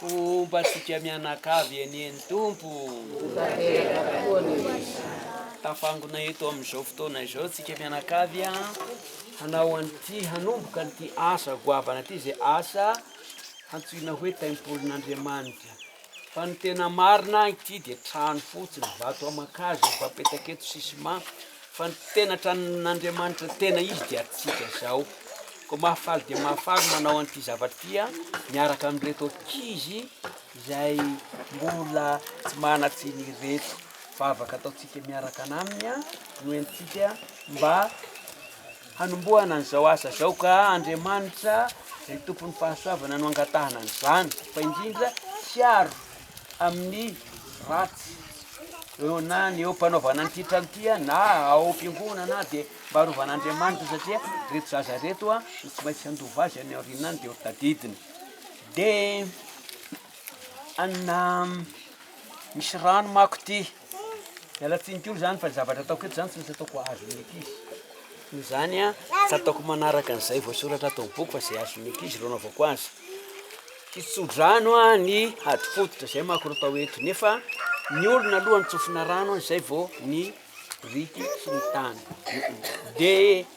Homba antsika mianakavy anie ny Tompo tafangona eto amin'izao fotoana izao tsika mianakavy a hanao an'ity hanomboka an'ity asa goavana ity izay asa hantsoina hoe tempolin'Andriamanitra fa ny tena marina ity dia trano fotsiny vato aman-kazo efa apetaka eto sisima fa ny tena tranon'Andriamanitra tena izy dia antsika izao Koa mahafaly dia mahafaly ny manao an'ity zavatra ity miaraka amin'ireto ankizy izay mbola tsy manan-tsiny ireto. Vavaka ataontsika miaraka an'aminy no entintsika mba hanombohana an'izao asa izao ka Andriamanitra izay tompon'ny fahasoavana no angatahana an'izany fa indrindra hiaro amin'ny ratsy eo na ny eo mpanaovana an'ity trano ity a na ao am-piangonana a dia mba arovan'Andriamanitra satria reto zaza reto a no tsy maintsy handova azy any aoriana any dia ho tadidiny dia anà misy rano manko ity Miala tsiny kely zany fa zavatra ataoko eto zany tsy maintsy ataoko azon'ny ankizy. Noho izany a, tsy ataoko manaraka an'izay voasoratra ato amin'ny boky fa izay azon'ny ankizy ireo anaovako azy. Hitso-drano a ny hady fototra, izay manko no atao eto. Nefa ny olona aloha no tsofina rano a, izay vao ny biriky sy ny tany. Dia.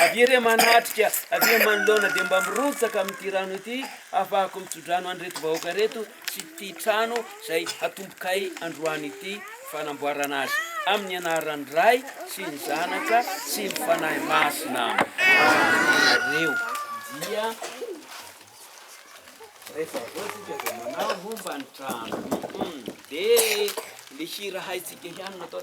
Avia re manatrika, avia manoloana dia mba mirotsaka amin'ity rano ity hahafahako mitsodrano an'ireto vahoaka ireto sy ity trano izay hatombokay androany ity fanamboarana azy. Amin'ny anaran'ny Ray sy ny Zanaka sy ny Fanahy Masina. Ianareo dia rehefa avy eo tsika dia manao homba ny trano. Dia le hira haintsika ihany no atao.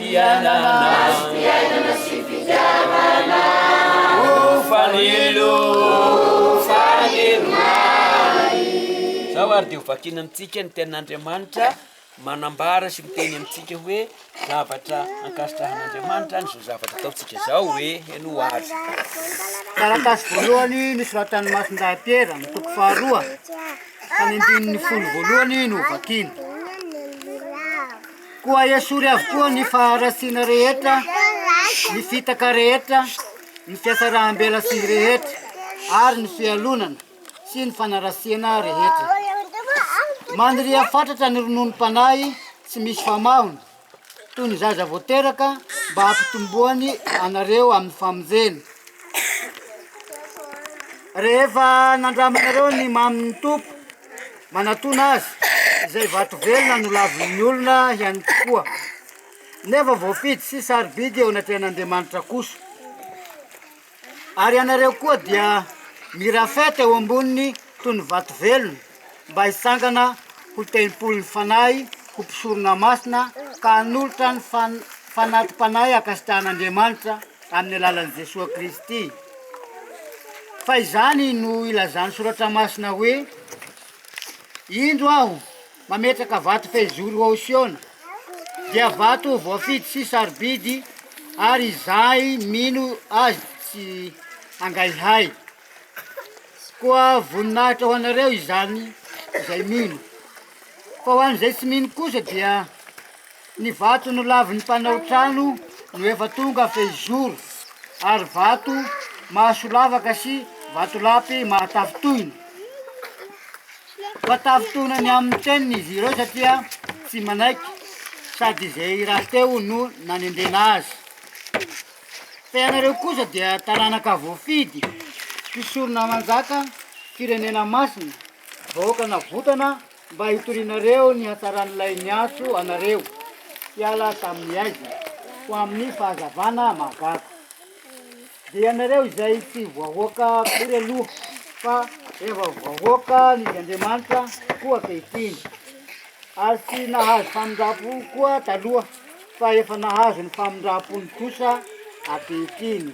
fiainana sy fitiavana Ho fanilo, ho fanilo mahay Izao ary dia ho vakiana amintsika ny tenin'Andriamanitra manambara sy miteny amintsika hoe zavatra ankasitrahan'Andriamanitra izao zavatra ataontsika izao hoe henoa ary. Taratasy voalohany nosoratan'ny Masindahy Piera, ny toko faharoa, ka ny andininy folo voalohany no hovakiana. Koa esory avokoa ny faharatsiana rehetra, ny fitaka rehetra, ny fiasaraham-belatsihy rehetra, ary ny fialonana sy ny fanaratsiana rehetra. Mandria fatratra ny rononom-panahy tsy misy famahony, toy ny zaza vao teraka, mba hampitomboany anareo amin'ny famonjena. Rehefa nandramanareo ny mamin'ny Tompo, Manatona azy izay vato velona nolavin'ny olona ihany koa, nefa voafidy sy sarobidy eo anatrehan'Andriamanitra kosa. Ary ianareo koa dia mirafeta eo amboniny toy ny vato velona, mba hitsangana ho tempolin'ny Fanahy, ho mpisorona masina, ka hanolotra ny fan- fanati-panahy hankasitrahan'Andriamanitra, Amin'ny alalan'i Jesoa Kristy. Fa izany no ilazan'ny Soratra Masina hoe, Indro aho mametraka vato fehizoro ho ao Siona, dia vato voafidy sy sarobidy, ary izay mino azy tsy hangaihay. Koa voninahitra ho anareo izany izay mino. Fa ho an'izay tsy mino kosa dia Ny vato nolavin'ny mpanao trano no efa tonga fehizoro, ary vato mahasolavaka sy vatolampy mahatafintohina. Fa tafintohina ny amin'ny teniny izy ireo satria tsy manaiky, sady izay rahateo no nanendrena azy. Fa ianareo kosa dia taranaka voafidy, mpisoronamanjaka, firenena masina, vahoaka navotana, Mba hitorianareo ny hatsaran'ilay niantso anareo hiala tamin'ny aizina ho amin'ny fahazavana mahagaga. Dia ianareo izay tsy voahoaka akory aloha, fa efa voahoaka ny Andriamanitra koa ankehitriny, ary tsy nahazo famindram-po koa taloha, fa efa nahazo ny famindram-pony kosa ankehitriny.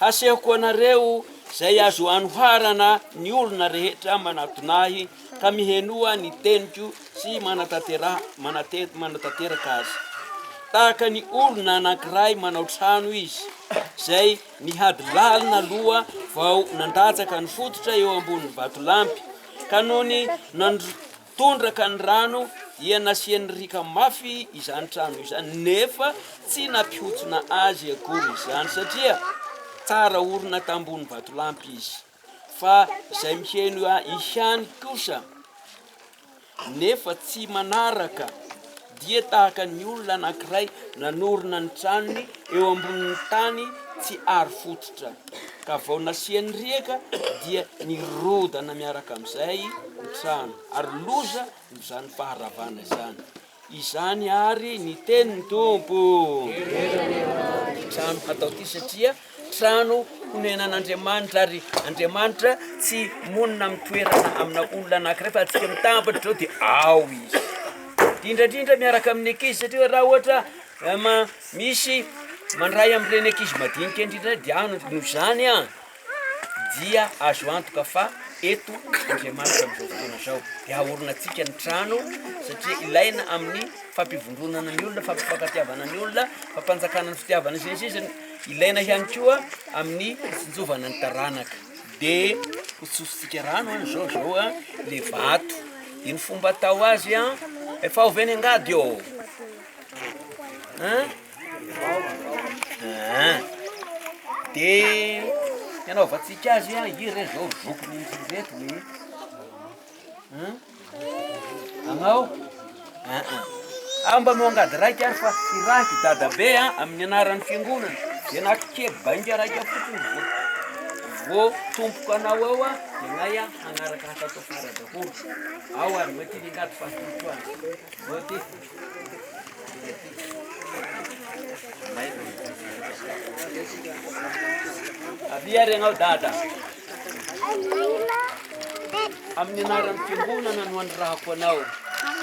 Hasehoko anareo izay azo anoharana ny olona rehetra manatona ahy ka mihenoa ny teniko sy manatanteraka azy. Tahaka ny olona anankiray manao trano izy, izay nihady lalina aloha vao nandatsaka ny fototra eo ambonin'ny vatolampy, ka nony nandrotsaka Tondraka ny rano dia nasian'ny riaka mafy izany trano izany nefa tsy nampihontsona azy akory izany satria tsara orina tambony vatolampy izy fa izay miheno ihany kosa nefa tsy manaraka dia tahaka ny olona anankiray nanorina ny tranony eo ambonin'ny tany tsy aro fototra, ka vao nasiany riaka dia nirodana miaraka amin'izay ny trano, ary loza no izany faharavana izany. Izany ary ny tenin'ny Tompo. Ny trano hatao ity satria Trano honenan'Andriamanitra, ary Andriamanitra tsy monina amin'ny toerana amina olona anankiray fa antsika mitambatra izao dia ao izy. Indrindra indrindra miaraka amin'ny ankizy satria raha ohatra eh, ma, misy mandray amin'ireny ankizy madinika indrindra dia any no izany an dia azo antoka fa eto Andriamanitra amin'izao fotoana izao dia haorinantsika ny trano satria ilaina amin'ny fampivondronana ny olona, fampifankatiavana ny olona, fampanjakana ny fitiavana sy ny sisa. Ilaina ihany koa amin'ny fitsinjovana ny taranaka. Dia hotsofintsika rano an zao zao an le vato. Iny fomba atao azy an. Efa ao ve ny angady eo? Hein? Hein. Dia ny anaovantsika azy an, ireto zao zokiny ireto e. Hein? Anao? Aah, mba no angady raika ary fa hirahiko dadabe a, amin'ny anaran'ny fiangonana, dia naky kely bainga raika fotsiny vao vao tompoko anao eo a, dia nay a, hanaraka hatrato afara daholo. Ao ary, mety ny angady fa hitohana. Mety. Avia ary ianao dada. Amin'ny anaran'ny fiangonana no anirahako anao.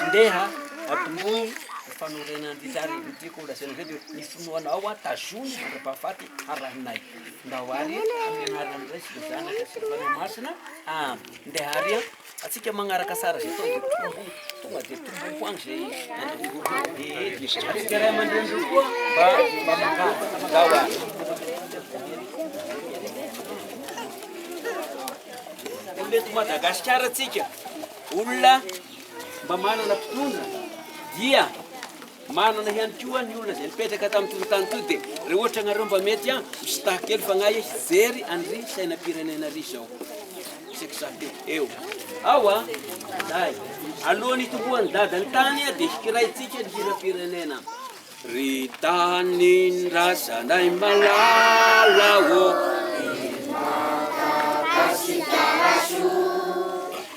Ndeha atomboy ny fanorenana ny didy ary tiako holazaina izay dia ny finoanao aho tazony mandra-pahafaty harahinay. Ndao ary amin'ny anaran'ny Ray sy ny Zanaka sy ny Fanahy Masina. Amen. Ndeha ary an. Atsika magnaraka sary zay tao tombo tonga de tombo ho any zay atsika ray aman-drenireo koa mba mba mangady zaho a olo eto madagasikara atsika olona mba manana mpitondra dia Manana ihany koa ny olona izay nipetraka tamin'ity fokontany ity dia raha ohatra ianareo mba mety an, misitaha kely fanahy e, hijery an'ry sainam-pirenena ry izao. Isaky izaho teo eo. Ao an, Daday. Alohan'ny hitomboan'ny Dada ny tany dia hikiraintsika ny hiram-pirenena. Ry tanin-drazanay malala ô.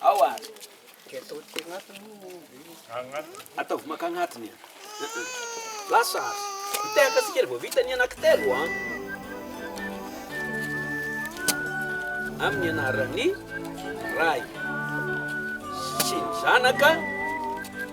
Ao ary. Ataovy maka agnatiny e. Lasa ary. Mitehaka antsika ery vao vita ny anankitelo an. Amin'ny anaran'ny Ray sy ny Zanaka.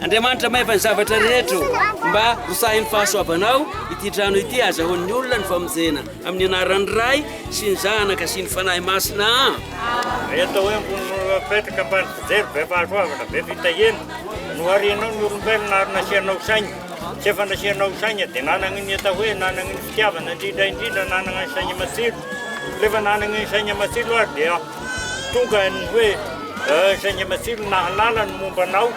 Andriamanitra mahefa ny zavatra rehetra mba hosahin'ny fahasoavanao ity trano ity azahoan'ny olona ny famonjena amin'ny anaran'ny Ray sy ny Zanaka sy ny Fanahy Masina. Rehetra hoe mbonin'olona mipetraka ambany fijery be fahasoavana be fitahiana no harianao ny olombelona ary nasianao saina. Tsy efa nasianao saina dia nanana ny atao hoe nanana ny fitiavana indrindra indrindra nanana ny saina matsilo. Rehefa nanana ny saina matsilo ary dia tonga ny hoe eh, saina matsilo nahalala ny momba anao.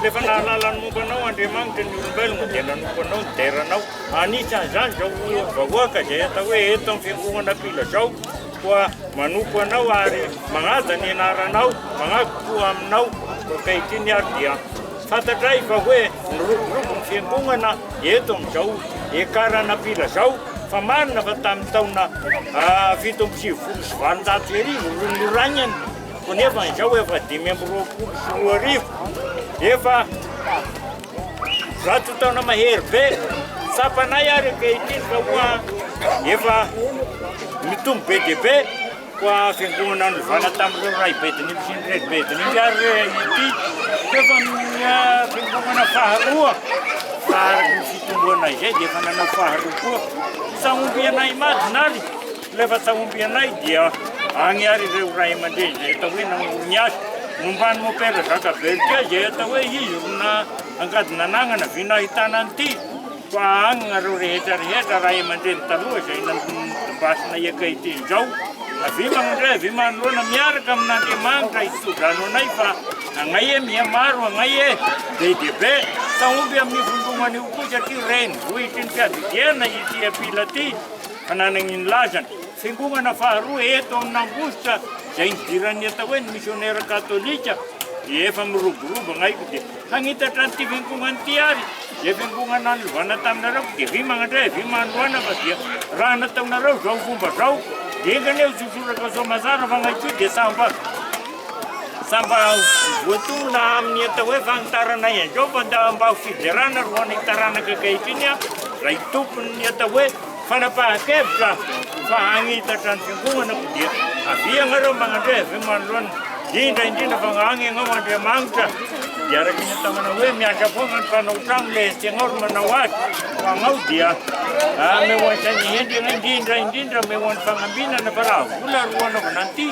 Rehefa nahalala ny momba anao Andriamanitra ny olombelona dia nanompo anao nidera anao. Anisan'izany izao vahoaka izay atao hoe eto amin'ny fiangonana mpila izao koa manompo anao ary manaja ny anaranao, manaja koa aminao. Ankehitriny ary dia Fantatray fa hoe miroborobo ny fiangonana eto amin'izao ekarana ampila zao fa marina fa tamin'ny taona fito amby sivifolo sy valonjato sy arivo no nioragnany ko nefa izao efa dimy amby roapolo sy roa arivo efa zato taona mahery be tsapanay ary ankehitriny fa hoa efa mitombo be dia be Koa fiangonana novana tamin'ireo ray bedinipy sy ny reny bedinipy ary re ity teo fa minia fiangonana faharoa fa araka ny fitomboanay izay dia efa nanao faharoa koa ny sahombianay imadina ary ilay fa sahombianay dia agny ary ireo ray aman-dreny izay atao hoe namoron'ny azy momban'ny mopera zaka velika izay atao hoe izy rona angady nananana vina ahitana an'ity Fa any nareo rehetra rehetra ray amandreny taloha izay nandondombasina hiakay teny izao avia manondray avia manoloana miaraka amin'Andriamanitra hisodrano anay fa agnay e miha maro agnay e be dia be fa omby amin'ny vondromana io koa satria renivohitry ny fiadidiana ity apila ity fa nanagny ny lazany fiangonana faharoa eto amin'Ambositra izay nidiran'ny atao hoe ny missionnaire katolika dia efa miroborobo agnay ko dia Hagnitatra an'ity fiangonana ity ary izay fiangonana nanovana taminareo fa dia avia magnandray, avia manohana fa dia raha nataonareo izao fomba izao dia enga anie ho sosoratra soa mazava fa ngay koa dia samba samba voatonona amin'ny atao hoe fagnitaranay an'izao fa mba ho fiderana ro anay taranaka ankehitriny raha i tompon'ny atao hoe Fanapahan-kevitra fa hagnitatra ny fiangonana aho dia avia ianareo magnandre avy eo manoloana, indrindra indrindra fa agny ianao Andriamanitra dia araka ny ataonao hoe miandry foagna ny mpanao tragno le tianao ry manao azy fa agnao dia ameoan-tsaigna hendry ianao indrindra indrindra ameoan'ny fagnambinana fa raha vola ro anaovana an'ity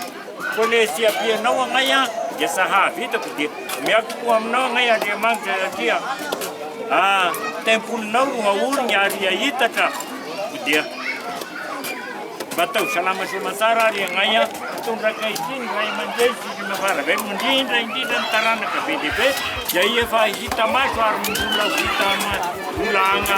Koa ilay tsy ampianao anay dia tsy hahavitako dia miaro tokoa aminao anay Andriamanitra satria tempolinao no aoriny ary hahitatra koa dia mba ataovy salama sy aman-tsara ary anay an. Mitondra ankehitriny ny ray aman-dreny sy ireo mavaravelona indrindra indrindra ny taranaka be dia be izay efa hita maso ary mbola ho hita maso mbola agna.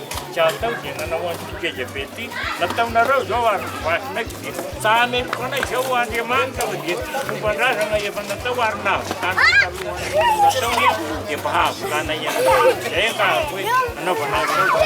Tsy atao dia nanao an'ity geja be ity. Nataonareo izao ary ny vasinay tsy dia tsahameko anay izao ho Andriamanitra fa dia fomban-drazana efa natao ary nahavitana ny talohan'ny nataony dia mba hahavitana ihany koa. Izay angah hoe anaovana an'izao.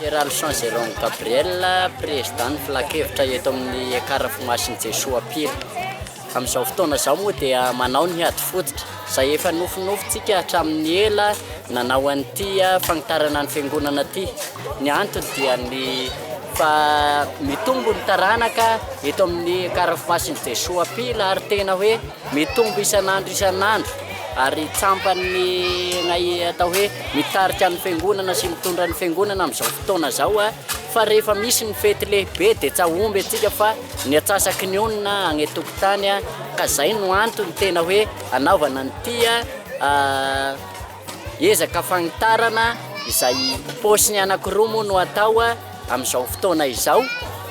Héralson Jérôme Gabriel, Président Filankevitra eto amin'ny Ekar Fomasin'i Jesoa Pire. Amin'izao fotoana izao moa dia manao ny ady fototra, izay efa nofinofintsika hatramin'ny ela nanao an'ity fanitarana ny Fiangonana ity. Ny antony dia ny fa mitombo ny taranaka eto amin'ny Ekar Fomasin'i Jesoa Pire ary tena hoe Mitombo isan'andro isan'andro ary tsampan'ny nay atao hoe mitarika ny fiangonana sy mitondra ny fiangonana amin'izao fotoana izao fa rehefa misy ny fety lehibe dia tsahomby antsika fa ny atsasaky ny onona any an-tokotany ka izay no antony tena hoe anaovana an'ity Ezaka fanitarana izay paosiny anankiroa moa no atao amin'izao fotoana izao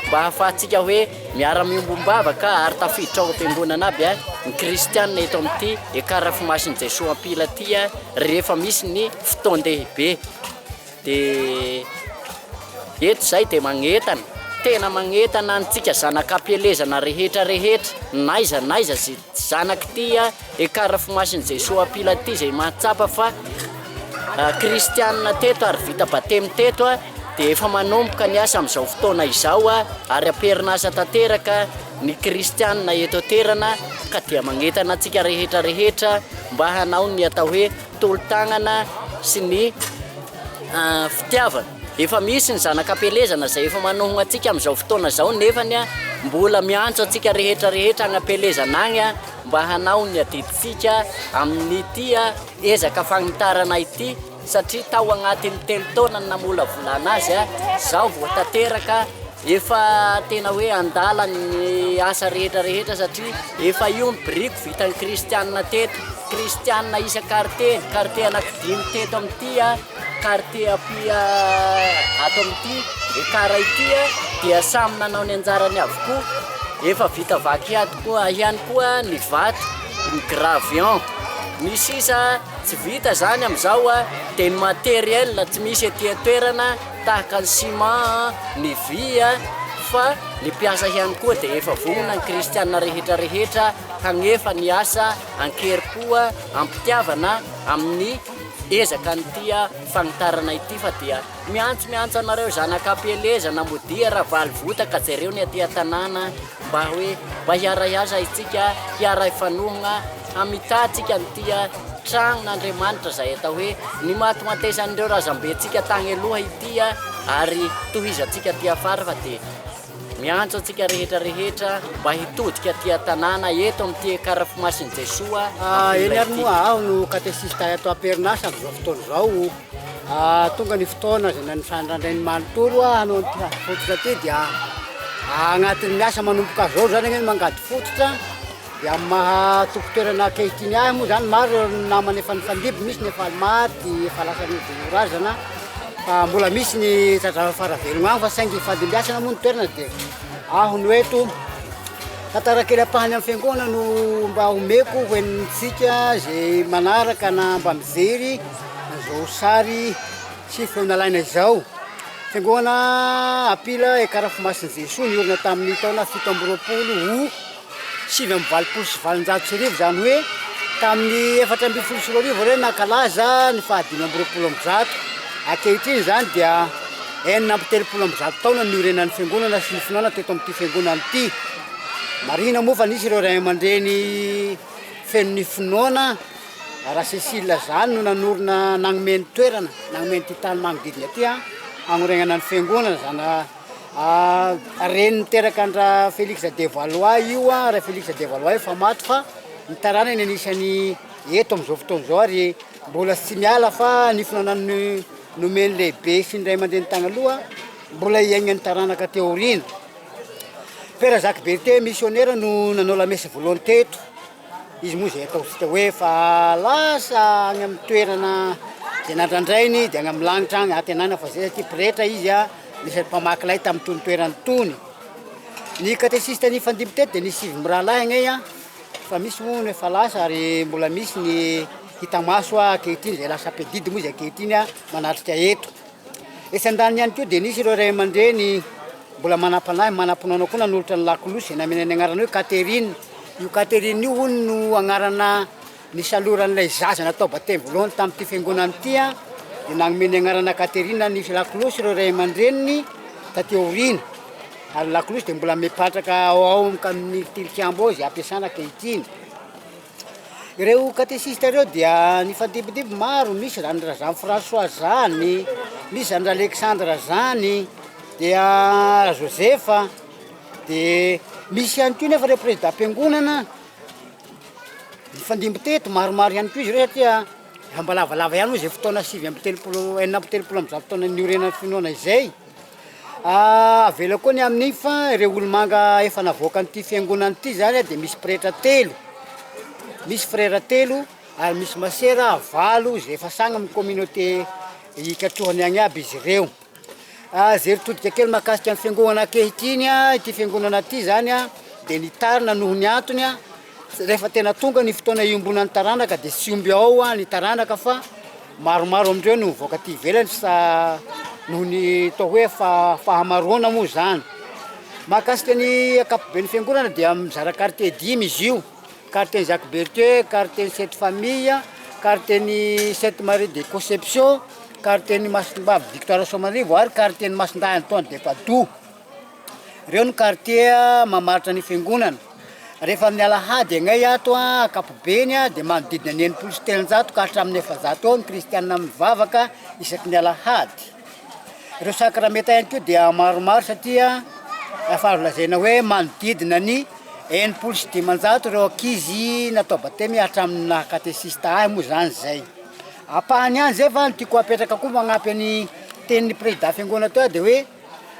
mba hahafahantsika hoe miara-miombom-bavaka ary tafiditra ao am-piangonana aby ny kristiana eto amin'ity Ekarafimasin'i Jesoa Ampila ity rehefa misy ny fotoan-dehibe. Dia eto izay dia magnetana, tena magnetana antsika zanak'ampielezana rehetra rehetra, n'aiza n'aiza izay zanak'ity ekarfomasin'i Jesoa Mpila ity izay mahatsapa fa kristianina teto ary vita batemy teto dia efa manomboka ny asa amin'izao fotoana izao ary am-perinasa tanteraka ny kristianina eto an-toerana ka dia magnetana antsika rehetra rehetra mba hanao ny atao hoe tolo-tanana sy ny fitiavana. Efa misy ny zanak'ampielezana izay efa manohogna antsika amin'izao fotoana izao nefany mbola miantso antsika rehetra rehetra any ampielezana agny mba hanao ny adidintsika amin'ity ezaka fagnitarana ity satria tao agnatin'ny telo taona ny namolavolana azy izao vao tanteraka Efa tena hoe andalany ny asa rehetra rehetra satria efa io ny biriko vitan'ny kristianina teto. Kristianina isa kartie, kartie anaky dimy teto amin'ity, kartie apia ato amin'ity ekara ity dia samy nanao ny anjarany avokoa. Efa vita vaky ato koa ihany koa ny vato, ny gravion. Ny sisa tsy vita izany amin'izao dia ny matériel tsy misy ety an-toerana. Tahaka ny ciment, ny vy fa ny mpiasa ihany koa dia efa vonona ny kristiana rehetra rehetra hagnefa ny asa ankerim-po am-pitiavana amin'ny ezaka ny tia fagnitarana ity fa dia miantso miantso anareo zanak'ampielezana modia ravalo votaka jereo ny aty an-tanàna Mba hoe mba hiaray aza isika, hiaray fanohana, hamitatsika ny tia tragnon' Andriamanitra izay atao hoe ny matimatesan' ireo razambentsika tagny aloha ity a! ary tohizantsika aty afara fa dia miantso antsika rehetra rehetra mba hitodika aty an-tanàna eto amin' ity Ekarafimasin' i Jesoa ampela ity. Eny ary moa aho no katesista eto am-perinasa amin' izao fotoana izao. Tonga ny fotoana izay nanisanin-dRandrainy manontolo hanao ity ady fototra ity dia agnatin'ny asa manomboka izao izany anie ny mangady fototra dia amin'ny maha tompon-toerana ankehitriny ahy moa izany maro ireo namana efa nifandimby, misy ny efa maty, efa lasa nodino razana fa mbola misy ny tazava fa raha velogna any fa saingy hifandimbiasana moa ny toerana dia aho no eto. Tantara kely ampahany amin'ny fiangonana no mba omeko ho henontsika izay manaraka na mba mijery. Izao sary sy feo nalaina izao, fiangonana Apila Ekarafo Masin'i Jesoa niorina tamin'ny taona fito amby roapolo ho sivy amby valopolo sy valonjato sy arivo, izany hoe tamin'ny efatra ambin'ny folo sy roa arivo ireo nankalaza ny fahadimy amby roapolo amby zato. Ankehitriny izany dia enina amby telopolo amby zato taona ny niorenan'ny fiangonana sy ny finoana teto amin'ity fiangonana ity. Marihina moa fa nisy ireo ray aman-dreny feno ny finoana. Rasesily Lazalo no nanorina nanome ny toerana, nanome an'ity tany manodidina ity hagnorenana ny fiangonana zana reny niteraka an-dra Felix de Valois io an, ra Felix de Valois efa maty fa ny taranany anisany eto amin'izao fotoana izao ary mbola tsy miala fa nifona nanome nomeny lehibe sy ny ray aman-dreny tagny aloha mbola hiaignan'ny taranaka aty aoriana. Père Jacques Berthet missionnaire no nanao la messe voalohany teto. Izy moa izay ataontsika hoe efa lasa any amin'ny toerana izay nandrandrainy dia any amin'ny lanitra any antenana fa izay satria pretra izy a, anisan'ny mpamaky lay tamin'itony toerana itony. Ny katesista nifandimby teto dia nisy sivy mirahalahy agnay a, fa misy hono efa lasa ary mbola misy ny hita maso ankehitriny izay lasa mpiadidy moa izy ankehitriny a manatrika eto. Etsy andaniny ihany koa dia nisy ireo ray aman-dreny mbola manam-panahy, manam-pinoana koa nanolotra ny lakolosy izay namena ny anarana hoe Catherine. Io Catherine io hono no anarana nisaloran'ilay zaza natao batemy voalohany tamin'ity fiangonana ity dia nanome ny anarana Catherine ny lakolosy ireo ray aman-dreniny taty aoriana. Ary ny lakolosy dia mbola mipatraka ao amin'ny tilikambo ao izay ampiasana ankehitriny. Ireo katesista ireo dia nifandimbidimby maro, misy izany ra Jean François zany, misy izany ra Alexandre zany, dia ra Joseph, de misy ihany koa nefa ireo prezidam-piangonana nifandimby teto, maromaro ihany koa izy ireo satria mba lavalava ihany moa izay fotoana sivy amby telopolo, enina amby telopolo amby zato taona niorenan'ny finoana izay. Avela koa ny amin'iny fa ireo olomanga efa navoakan'ity fiangonana ity zany dia misy pretra telo, misy frera telo ary misy masera valo izay efa sahy amin'ny communauté hikatrohany any aby izy ireo. Izay ry todika kely mahakasika ny fiangonana ankehitriny, ity fiangonana ity zany dia nitarina noho ny antony Rehefa tena tonga ny fotoana iombonan'ny taranaka dia tsy omby ao ah, ny taranaka fa maromaro amin'ireo no mivoaka aty ivelany sa noho ny toa hoe fa fahamaroana moa izany. Mahakasika ny ankapoben'ny fiangonana dia mizara quartier dimy izy io, quartier-n'i Jacques Berthieu, quartier-n'i Sainte Famille, quartier-n'i Sainte Marie de Conception, quartier-n'i Masimbavy Victoire Soamarivo ary quartier-n'i Masindahy Antoine de Padoue. Reo ny quartier mamaritra ny fiangonana. Rehefa amin'ny alahady agnay ato an, ankapobeny an, dia manodidina ny enimpolo sy telonjato ka hatramin'ny efajato eo ny kristianina mivavaka isaky ny alahady. Reo sakramenta ihany koa dia maromaro satria efa azo lazaina hoe manodidina ny enimpolo sy dimanjato reo ankizy natao batemy hatramin'ny naha katesista ahy moa zany zay. Ampahany ihany zay fa ny tiako apetraka koa magnampy ny tenin'ny prezida fiangonana teo dia hoe.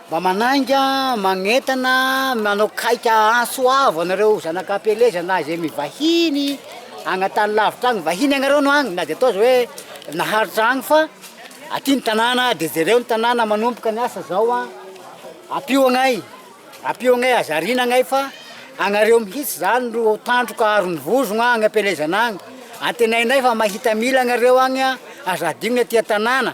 Mba manainga, magnentana, manao kaika antso avo anareo zanaka am-pieleza na izay mivahiny agny an-tany lavitra agny, vahiny agnareo no agny na dia atao aza hoe naharitra agny fa aty ny tanàna dia jereo ny tanàna manomboka ny asa zao an, ampio agnay, ampio agnay, aza ariana agnay fa agnareo mihitsy zany ro tandroka aron'ny vozogna agny am-pielezana agny, antenainay fa mahita mila agnareo agny an, aza adigno ny aty an-tanàna.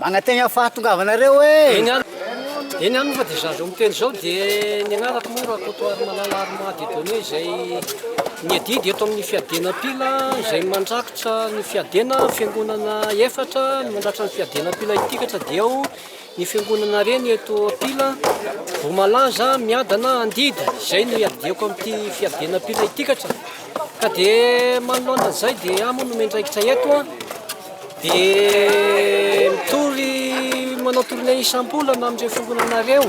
Manantena ny fahatongavanareo e! Eny aminy fa dia izaho izao miteny izao dia ny anarako moa Rakotoarimalala Armand Dieudonné izay miadidy eto amin'ny fiadiana mpila izay mandrakotra ny fiadiana fiangonana efatra no mandrakotra ny fiadiana mpila itikatra dia ao ny fiangonana reny eto mpila Voamalaza miadana andidy izay no iadiako amin'ity fiadiana mpila itikatra Ka dia manoloana izay dia aho moa no miandraikitra eto an, dia mitory manao tournée isam-bolana amin'ireo fiangonanareo,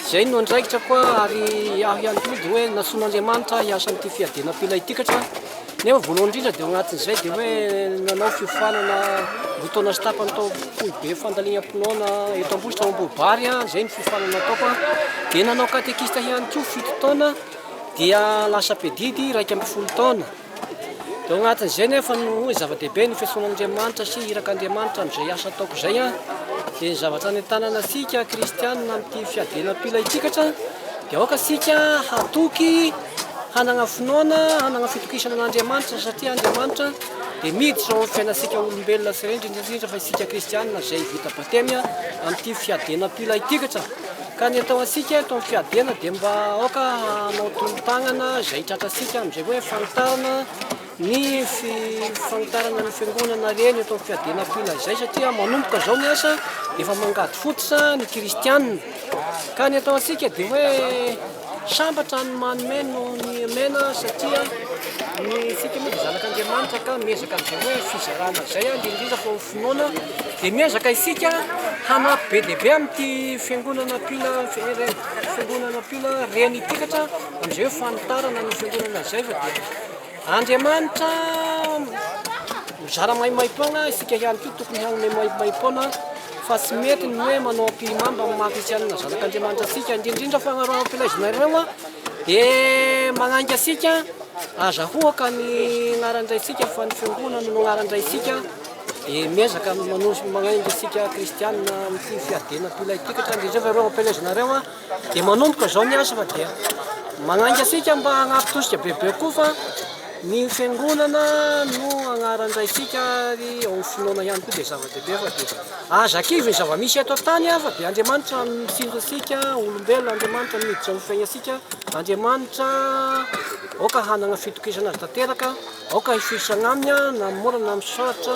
izay no andraikitra koa ary aho ihany koa dia hoe nasoan'Andriamanitra hiasa amin'ity fiadiana-pila ity katra, nefa voalohany indrindra dia ao anatin'izay dia hoe nanao fiofanana roa taona sy tapany tao foibe fandalinam-pinoana eto Ambositra ao Ambohibary aho, izay no fiofanana nataoko an, dia nanao katekista ihany koa fito taona. dia lasa mpedidy iraika ambin'ny folo taona. Tao anatin'izay nefa no hoe zava-dehibe ny fiantsoan'Andriamanitra sy irak'Andriamanitra amin'izay asa ataoko izay an. Dia ny zavatra nentanana antsika kristianina amin'ity fiadiana mpila itsika atra dia aoka isika hatoky hanagna finoana, hanagna fitokisana an'Andriamanitra satria Andriamanitra dia miditra ao amin'ny fiainantsika olombelona sy indrindra fa isika kristianina izay vita batemy amin'ity fiadiana mpila ity atra. Ka ny atao antsika eto amin'ny fiadiana dia mba aoka hanao tolo-tanana izay tratra antsika amin'izay hoe fanitarana ny fanitarana ny fiangonana ireny eto amin'ny fiadiana am-poina izay satria manomboka izao ny asa dia efa mangady fototra ny kristianina. Ka ny atao antsika dia hoe Sambatra ny manome noho ny omena satria ny fika moa dia zanak'Andriamanitra ka miezaka amin'izay hoe fizarana izay ary indrindra fa ho finoana dia miezaka isika hanampy be dia be amin'ity fiangonana mpila fiangonana mpila reny ity katra amin'izay hoe fanitarana ny fiangonana izay fa dia Andriamanitra mizara maimaim-poana, isika ihany koa tokony hanome maimaim-poana fa tsy mety ny hoe manao ampihimamba amin'ny maha kristianina zanak'Andriamanitra antsika, indrindra indrindra fa raha ny filazanareo dia manainga antsika aza hoaka ny anaran-draintsika fa ny fiangonana no anaran-draintsika dia miezaka manoso manainga antsika kristianina amin'ny fiadiana am-pilaikikatra, indrindra indrindra fa ireo ampelezanareo Dia manomboka izao ny asa fa dia manainga antsika mba hanampy tosika bebe koa fa ny fiangonana no agnaran-draintsika ary ao finoana ihany koa dia zava-dehibe fa dia aza kivy ny zava-misy eto an-tany fa dia Andriamanitra mitsinjo antsika olombelona Andriamanitra miditra amin'ny fiainantsika Andriamanitra aoka hanana fitokisana azy tanteraka aoka hifoisana aminy na amin'ny mora na amin'ny sarotra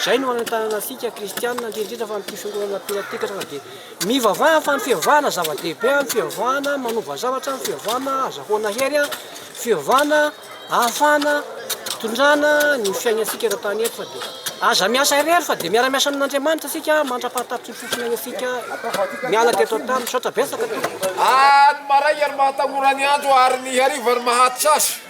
izay no anentanana antsika kristianina indrindra indrindra fa amin'ity fiangonana mpiratikatra fa dia Mivavaha fa ny fivavahana zava-dehibe an, fivavahana manova zavatra, fivavahana azahoana hery an, fivavahana ahafahana hitondrana ny fiainantsika eto an-tany eto fa dia aza miasa irery fa dia miara-miasa amin'Andriamanitra isika mandra-pahatapitry ny fofona iantsika miala teto an-tany. Misaotra betsaka tompoko. Any maray ary mahatanora ny andro ary ny hariva ary mahatsa azy.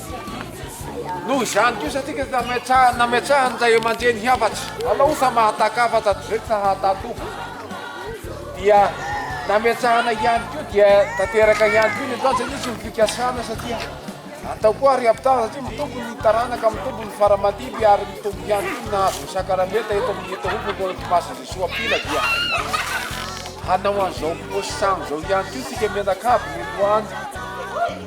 Noho izany kosa isika dia nametrahany ray aman-dreny hafatra. Alao osa mahataka hafatra toy izay tsy nahatatoka. Dia nametrahana ihany koa dia tanteraka ihany koa ny antoandro satria tsy ny fikasana satria atao koa ary ampitahana satria mitombo ny taranaka, mitombo ny faramandidy ary mitombo ihany koa ny nahazo ny sakaramenta eto amin'ny eto Hopy mbola Toamasina Jesoa Mpila dia hanao an'izao paosy sahan'izao ihany koa isika mianakavy ny androany.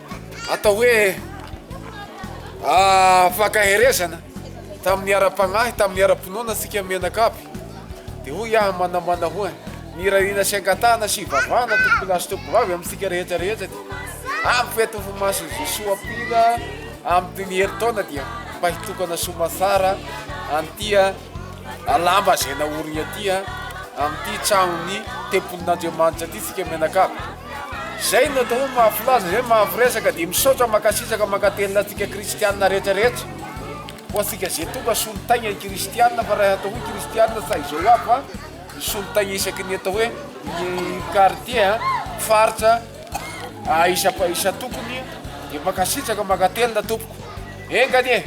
atao hoe fankaherezana tamin'ny ara-panahy, tamin'ny ara-pinoana antsika mianakavy. Dia hoy aho manamana hoany, mirariana sy angatahana sy vavahana tompoko lahy sy tompoko vavy amintsika rehetra rehetra dia ampy feto ho maso Jesoa Pila amin'ny ny herintaona dia mba hitokana somatsara an'tia alamba izay naoriny aty amin'ity tranon'ny tempolin'Andriamanitra aty tsika mianakavy. Zay no atao hoe mahafilaza izay mahafiresaka dia misaotra mankasitraka mankatelina antsika kristianina rehetra rehetra ho antsika zay tonga solontaigna kristianina fa raha atao hoe kristianina sa izao aby fa ny solontaigna isaky ny atao hoe quartier faritra isa isa tokony dia mankasitraka mankatelina tompoko enga anie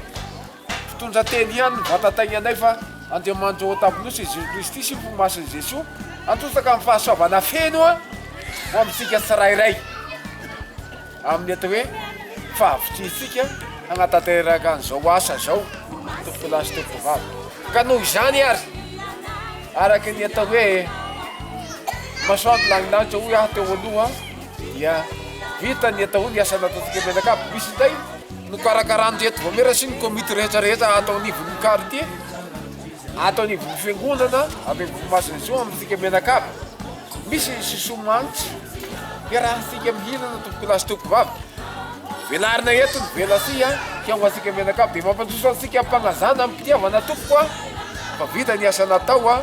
Mpitondra teny ihany ny vatatainganay fa Andriamanitra ao an-tampon-nosy i Jesoa Kristy sy ny fo masin'i Jesoa hantontsaka ny fahasoavana feno ho amintsika tsirairay amin'ny atao hoe fahavitrihantsika hanatanteraka an'izao asa izao tompokolahy sy tompokovavy ka noho izany ary araka ny atao hoe masoandro lanilanitra hoy aho teo aloha dia vita ny atao hoe ny asa nataontsika eto Menakavy, misy indray no karakarany teto Voamera sy ny komity rehetra rehetra ato anivon'ny quartier, ato anivon'ny fiangonana avy amin'ny Vohimasina Jean amintsika Menakavy, misy ny sisoa mantsy iarahantsika mihinana tompokolahy sy tompovavy, velarina eto ny vela aty an, kay ho antsika Menakavy, dia mampandroso antsika am-panazana am-pitiavana tompoko an, fa vita ny asa natao an.